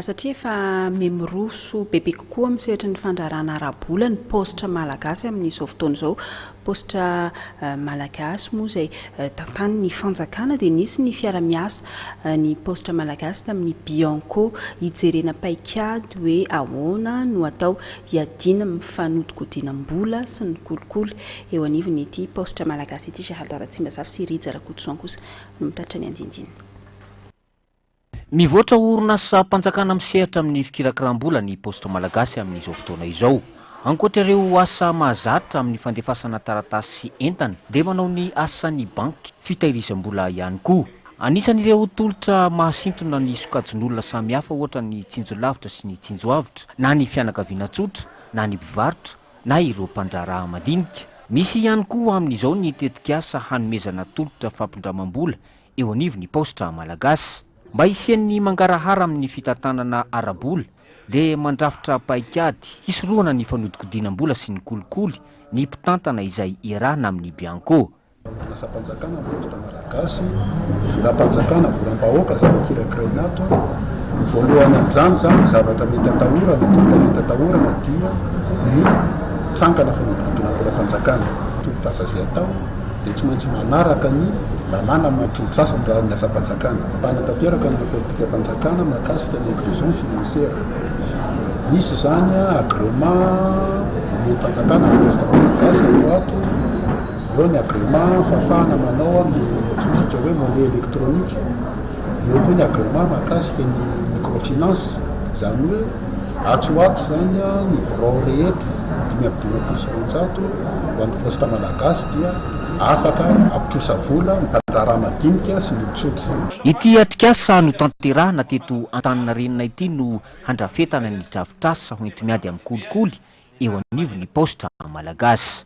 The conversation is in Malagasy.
Satria efa mimiroso bebe kokoa amin'ny sehatry ny fandraharahana ara-bola ny paositra malagasy amin'izao fotoana izao. Paositra malagasy moa izay tantanin'ny fanjakana dia nisy ny fiara-miasa ny paositra malagasy tamin'ny Bianco. Hijerena paikady hoe ahoana no atao hiadiana amin'ny fanodinkodinam-bola sy ny kolikoly eo anivon'ity paositra malagasy ity. Gerald Ratsimbazafy sy Rija Rakotoson kosa no mitatitra ny andindiny. Mivoatra ho orinasam-panjakana misehatra amin'ny fikirakram-bola ny Paositra Malagasy amin'izao fotoana izao. Ankoatra ireo asa mahazatra amin'ny fandefasana taratasy sy entana dia manao ny asan'ny banky fitahirizam-bola ihany koa. Anisan'ireo tolotra mahasintona ny sokajin'olona samihafa ohatra ny tsinjo lavitra sy ny tsinjo avotra na ny fianakaviana tsotra na ny mpivarotra na ireo mpandraharaha madinika. Misy ihany koa amin'izao ny tetikasa hanomezana tolotra fampindramam-bola eo anivon'ny paositra malagasy. Mba hisian'ny mangarahara amin'ny fitantanana ara-bola dia mandrafitra paikady hisorohana ny fanodikodinam-bola sy ny kolikoly ny mpitantana izay iarahana amin'ny Bianco. Manasam-panjakana ny paositra malagasy, volam-panjakana, volam-bahoaka izany kirakiraina ato. Ny voalohany amin'izany izany, ny zavatra mety atahorana, tonta mety atahorana dia ny trangana fanodikodinam-bolam-panjakana. Toro-tasa izay atao dia tsy maintsy manaraka ny lalàna mampitsoa sasany raha ny asam-panjakana. Mpanatanteraka ny politikam-panjakana mahakasika ny inclusion financière. Misy izany agrément omen'ny fanjakana ny Poste Malagasy ato ato, eo ny agrément fahafahana manao amin'ny antsointsika hoe monnaie électronique, eo koa ny agrément mahakasika ny microfinance, izany hoe Atsy ho atsy izany, ny birao rehetra dimy amby dimampolo sy roanjato ho an'ny Poste Malagasy dia afaka hampitrosa vola ny mpandraharaha madinika sy ny olon-tsotra. Ity atrikasa notanterahina teto Antaninarenina ity no handrafetana ny drafitrasa hoenti-miady amin'ny kolikoly eo anivon'ny Paositra Malagasy.